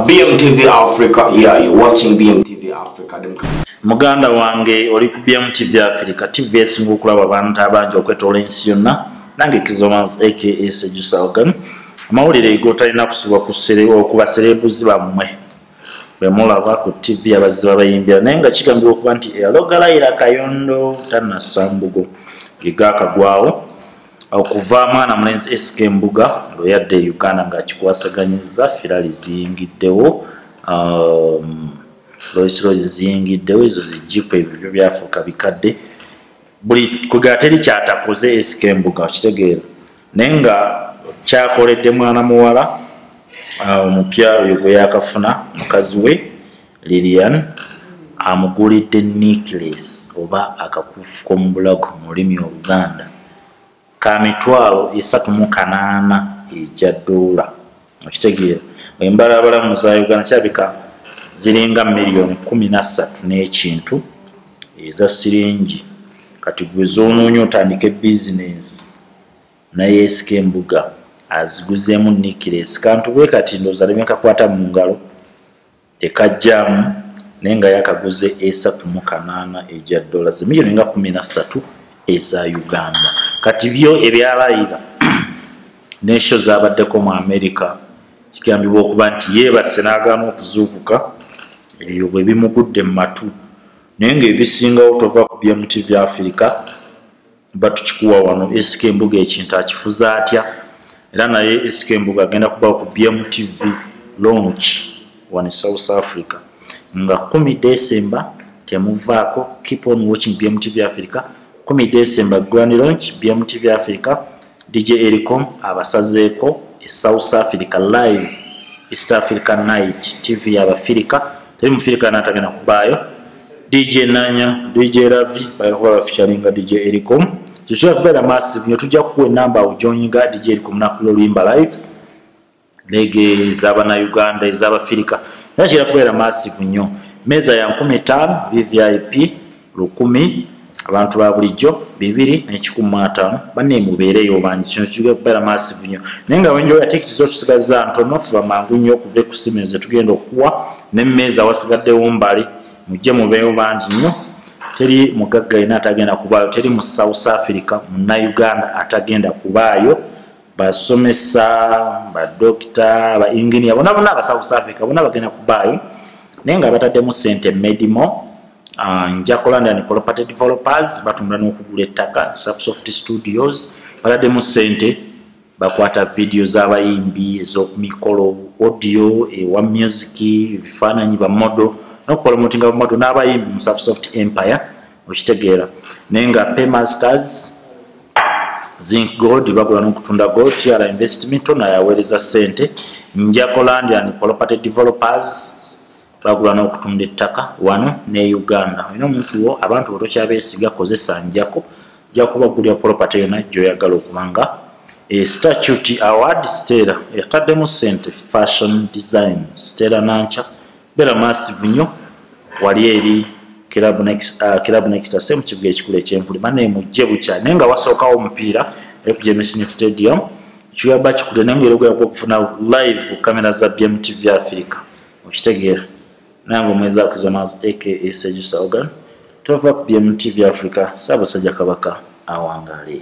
BMTV Africa, yeah, you're watching BMTV Africa. Muganda wange oli ku BMTV Africa, TV esinga okulaba abantu abangi okwetoola ensi yonna nange Kizomans aka Sejusa Ogan. Amawulire gotalina kusubwa ku okuba serebuzi bammwe bwe mulaba ku TV abazzi babayimbira naye nga kigambibwa okuba nti eyalogalayira kayondo tannassambugo ge gaakagwawo okuva mwana mulenzi sk mbuga lwe yadde e uganda ng'akikwasaganyizza firali ziyingiddewo um, loisiro ziziyingiddewo ezo zijipu ebyo byo byafuuka bikadde buli kwegera teri kyatakoze sk mbuga okitegeera naye nga kyakoledde mwana muwala uh, omupya oyo gwe yakafuna mukazi we lilian amugulidde necklace oba akakufu komubulago mu lulimi oluganda ka mitwalo esatu mu kanaana egya doola okitegeera embalaabalamu za uganda kirabika ziringa miliyoni kumi na ssatu n'ekintu eza siringi kati gwe zoonoonya otandike bizinensi nayeesika embuga aziguzeemu necklace kantu bwe kati ndooza lemekakwata mu ngalo tekajjaamu naye nga yakaguze esatu mu kanaana egya dola zimiyoni nga kumi na ssatu eza uganda kati byo ebyalayira nesho zabaddeko mu amerika kigambibwa okuba nti yeebase n'agaana okuzuukuka ebyo bwe bimugudde mu matu naye ng'ebisingawo tova ku bya mutv africa batukikuwa wano SK Mbuga ekintu akifuza atya era naye SK Mbuga agenda kuba ku BMTV launch wano e South Africa nga 10 December temuvaako keep on watching BMTV Africa 10 December grand launch BMTV Africa DJ Ericom abasazeeko e South Africa live East Africa night TV y'Abafirika teri mufirika n'atagenda kubaayo dj nanya dj ravi bagala kuba bafeaturinga dj ericom kyokyira kubeera massive nyo tujja kukuwa enamba awo joinga dj ericom nakula oluyimba live lege ezabanauganda ezabafirika era kira kubeera massive nyo meeza ya nkumi ttaano vvip lukumi abantu ba bulijjo bibiri nekikumi mu ataano banne mubeereyo obanje kino kijja kubeera massive nnyo naye nga wenjoyo ate ekizo tusigaza ntono fuba mangu nnyo okuva ekusimu ezo tugenda okukuwa nemmeeza wasigaddewo mbali mujje mubeeyo bangi nnyo teri mugagga yena atagenda kubaayo teri mu south africa munauganda atagenda kubaayo basomesa badokita ba enginia bona bona aba south africa bona bagenda kubaayo naye nga bataddemu sente medimo ah, nja kulanda ni property developers batunda n'okugula ettaka soft studios bataddemu sente bakwata vidiyo z'abayimbi ez'okumikolo audio ewa music ebifaananyi bamodo n'okupromotinga bamodo n'abayimbi mu soft empire okitegeera naye nga paymasters zinc gold bagula nokutunda gold tiara investment ono ayaweereza sente njakolandi and property developers bagula nokutunda ettaka wano ne uganda olina omuntu wo abantu botokyabesiga kozesa njako jakuba gulya property yona gyoyagala okubanga e statute award stera yataddemu sente fashion design stera nanca bera massive nyo wali eri club next uh, club next ase mu kibuga ekikulu ekyempuli bane mujje bukya naye nga wasookawo omupiira eri ku jemesini stadium kiyaba kikule naye ngaera ogera okufuna live ku kamera za bmtv africa okitegeera nange omwezi akuzonas aka sejusa ogan tova ku bmtv africa saabasajja kabaka awangalee